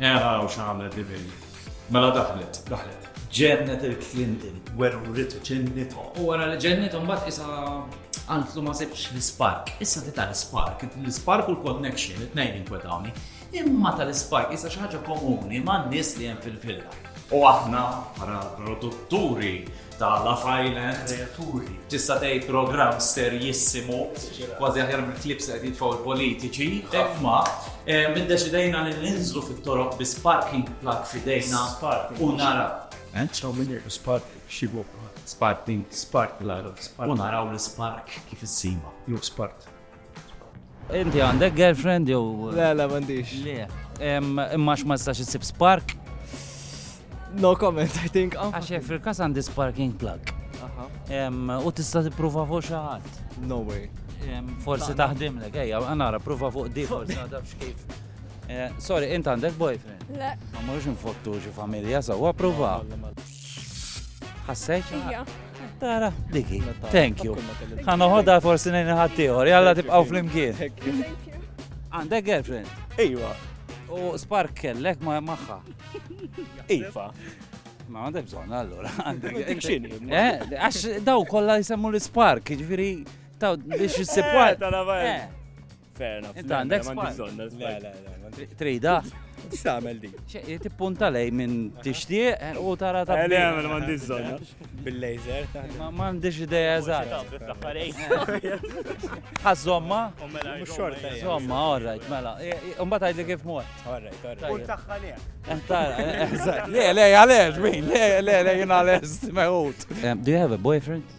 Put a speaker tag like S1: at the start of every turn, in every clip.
S1: Era
S2: u x'għamlet li bejn. Mela daħlet, daħlet. Ġennet
S1: il-Clinton, weru ritu ġennitu. U wara li ġennitu
S3: mbagħad isa għantlu ma sebx l-spark. Issa ti tal-spark, l-spark u l-connection, it-tnejn inkwetawni. Imma tal-spark isa xi ħaġa komuni ma' nies li hemm fil-villa. U aħna bħala produtturi ta' Love Island, kreaturi. Tista'
S1: tgħid programm
S3: serjissimu, kważi aħjar mill-klips qed jitfgħu l-politiċi, imma eh, minn deċidejna li ninżlu fit-toroq bi sparking plug fidejna u nara. Eh? Ċaw minn jirku
S1: spark xibu. Sparking,
S3: spark plug.
S1: U naraw
S3: l-spark kif issima. Jew spark.
S4: Inti għandek girlfriend jew. Le, le, m'għandix.
S5: Le.
S4: Imma ma tistax issib spark?
S5: No comment, I think. Oh. Għax fil-kas għandi
S4: sparking plug. U tista' tipprova fuq xi ħadd. No way.
S5: Forsi
S4: taħdimlek, ejja, għanara, prova fuq di, forsi għadabx kif. Eh, sorry, int għandek boyfriend? Le. Ma morrux
S6: nfottu
S4: xi familja, sawa prova. Ħassejt? Tara,
S6: diki.
S4: Thank you. Ħana ħodha forsi nejn ħaddieħor, jalla tibqgħu flimkien.
S6: Għandek
S4: girlfriend? Iva.
S1: U spark
S4: kellek ma maħħa. Iva.
S1: Ma
S4: għandek bżon, allora. Għandek xini.
S1: Eh, għax daw
S4: kolla jisemmu l-spark, ġifiri, taw biex jissib. Eh,
S1: Fair enough. Inta għandek
S4: spike. Trida. X'tagħmel
S1: di? Tippunta lej
S4: minn tixtieq eh, u tara ta' Eli għamel m'għandix żonna.
S1: Bil-laser.
S5: Ma m'għandix
S4: idea eżatt. Ħażomma? Mela, xorta.
S5: Żomma, orrajt,
S4: mela. Imbagħad għidli kif mod. Orrajt, orrajt. U tagħha
S5: lejha. Eh, tara, eh,
S4: Le, le, għalex, min, le, le, le, jien għalex, meħut. Do you have a boyfriend?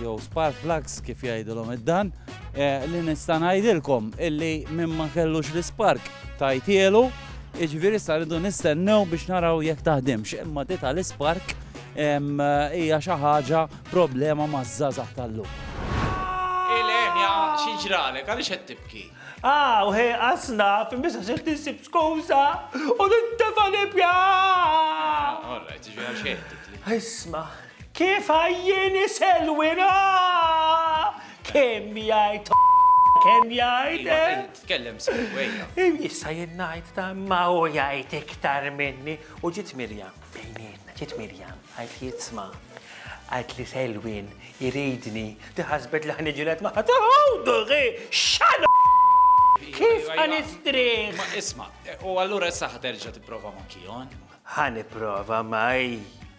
S4: jew spark plugs kif jgħidilhom id-dan, eh, li nista' ngħidilkom illi minn ma kellux l-ispark tajtielu, jiġifieri sa rridu nistennew biex naraw jekk taħdimx, imma di tal-ispark hija xi ħaġa problema maż-żgħażagħ tal-lum.
S3: Ilenja, xi ġralek, għaliex qed tibki? Ah, u ħej
S1: qasna, fil-misa se tinsib skuża u nintefa' nibja! All
S3: right, ġifieri xejn tibki. Isma',
S1: Kif għajjieni Selwyn aah! Kemm jgħid kemm jgħid Iva, eh? int tkellem sew,
S3: ejja. Issa jien ngħid
S1: ta' ma hu jgħid iktar minni u ġiet Mirjam bejnietna, ġiet Mirjam għajt li jitsma' għajt li Selwyn iridni li ħasbet li ħniġilet ma' ħadd ħawduħi xal Kif ħanistrieħ? Ma isma',
S3: u allura issa ħaterġa' tipprova ma' Kion? Ħaniprova
S1: ma'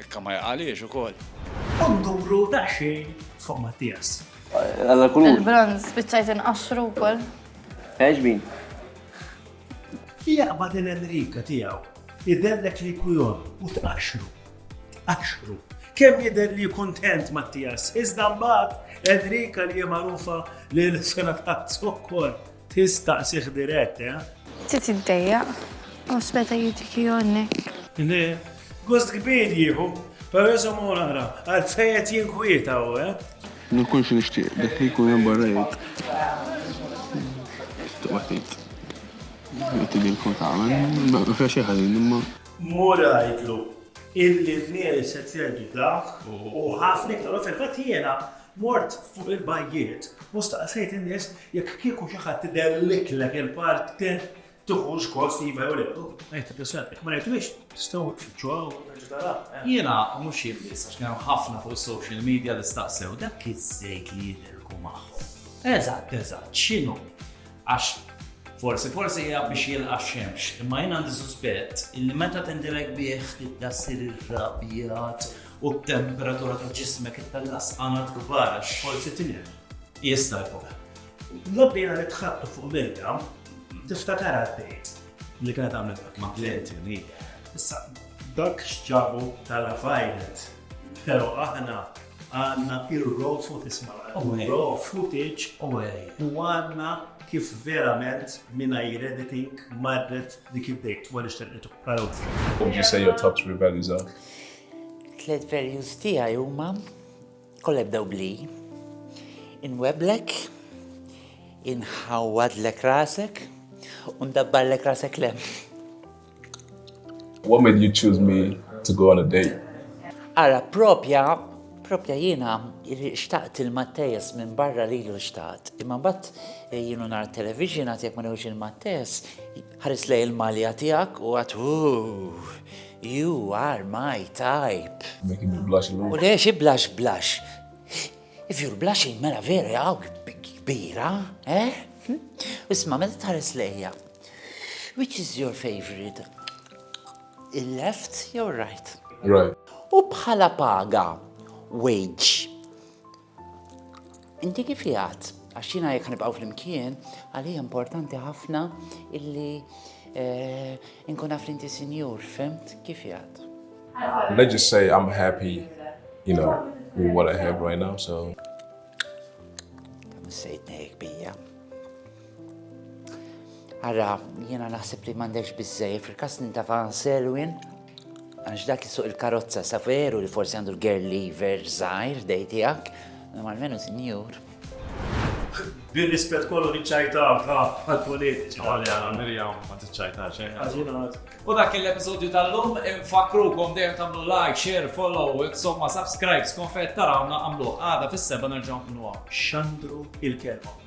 S3: Ikka ma jaqaliex ukoll. U nduru
S1: daqsxejn fuq Mattias. Alla kulur.
S7: Il-bronz spiċċajt
S8: inqaxxru wkoll. Għeġbin.
S1: Jaqbad il-Enrika tiegħu, jidherlek li jkun jon u tqaxxru. Tqaxxru. Kemm jidher li kuntent Mattias, iżda mbagħad Enrika li hija magħrufa li l-sena tqatt ukoll. Tistaqsih dirett, eh? Ftit
S8: iddejjaq. U speta jitik jonnek. Le,
S1: gost kbir jieħu. Pero jisom u naqra, għalfejet jinkwieta u, eh? Ma nkunx
S7: nixtieq dak li jkun hemm barra jgħid. Tibqa' tgħid. Jgħid li jkun tagħmel, ma fiex xi ħażin imma. Mura jgħidlu
S1: illi l-nies qed jgħidu dak u ħafna iktar u fil-fatt jiena Mort fuq il-bajjiet u staqsejt in-nies jekk kieku xi ħadd idelliklek il-parti tiħux gost iva jew le. Ngħid il-persuna jekk ma rajtux tistgħu tfittxu hawn u terġa' taraha. Jiena
S3: u mhux jien biss għax kien hemm ħafna fuq is-social media li staqsew dak iż-żejt li jidilku magħhom. Eżatt, eżatt, x'inhu? Għax forsi forsi hija biex jilqa' x-xemx, imma jien għandi suspett illi meta tindilek bih tibda ssir irrabjat u t-temperatura ta' ġismek ittella' sqanat kbar għax forsi tinħel.
S1: Jista'
S3: jkun. L-għobdiena li
S1: tħatt fuq l-ilka, tiftakarha tgħid. Li kienet għamlet dak ma' Clint, hi. Issa, dak x'ġabu tal-għafajlet, però aħna għandna r-raw footage mara, raw footage u għandna kif verament mingħajr editing marret dik id-date wara li xternitha. Ara wkoll. Would
S7: you say your top three values are? Tliet
S9: values tiegħi huma kollha jibdew bli. Inweblek, inħawwadlek rasek, u ndabbarlek rasek lem.
S7: What made you choose me to go on a date? Ara,
S9: propja, propja jiena xtaqt il-Mattejas minn barra lilu xtaqt. Imma mbagħad eh, jienu nar television għad jekk ma newx il-Mattejas Ħares lejn il-malja tiegħek u għad, Ooh, you are my type. Dak kien il-blush
S7: illum. U le, xi blush blush.
S9: If you're blushing, mela vera hawn kbira, eh? Isma' meta tħares lejja, which is your favorite? Il-left jew right? Right. U
S7: bħala
S9: paga, wage. Inti kif jgħat? Għax jiena jekk nibqgħu flimkien, għalija importanti ħafna illi eh, nkun naf inti sinjur, fimt? Kif jgħat? Let's just
S7: say I'm happy, you know, with what I have right now, so.
S9: Kamu sejtna jek bija. Ara, jiena naħseb li m'għandekx biżej, fil-kas nintafa selwin, għax dak suq il-karozza sa veru li forsi għandu l-girl lever zaħir dej tiegħek, imma almenu sinjur.
S1: Bir-rispett kollu niċċajta għal-politiċi. Għalja, Mirjam,
S2: ma tiċċajta xejn. U
S3: dak l-episodju tal-lum infakrukom dejjem tagħmlu like, share, follow, insomma subscribe, skonfett tarawna għamlu għada fis-seba nerġgħu nkunu Xandru
S1: il-kelma.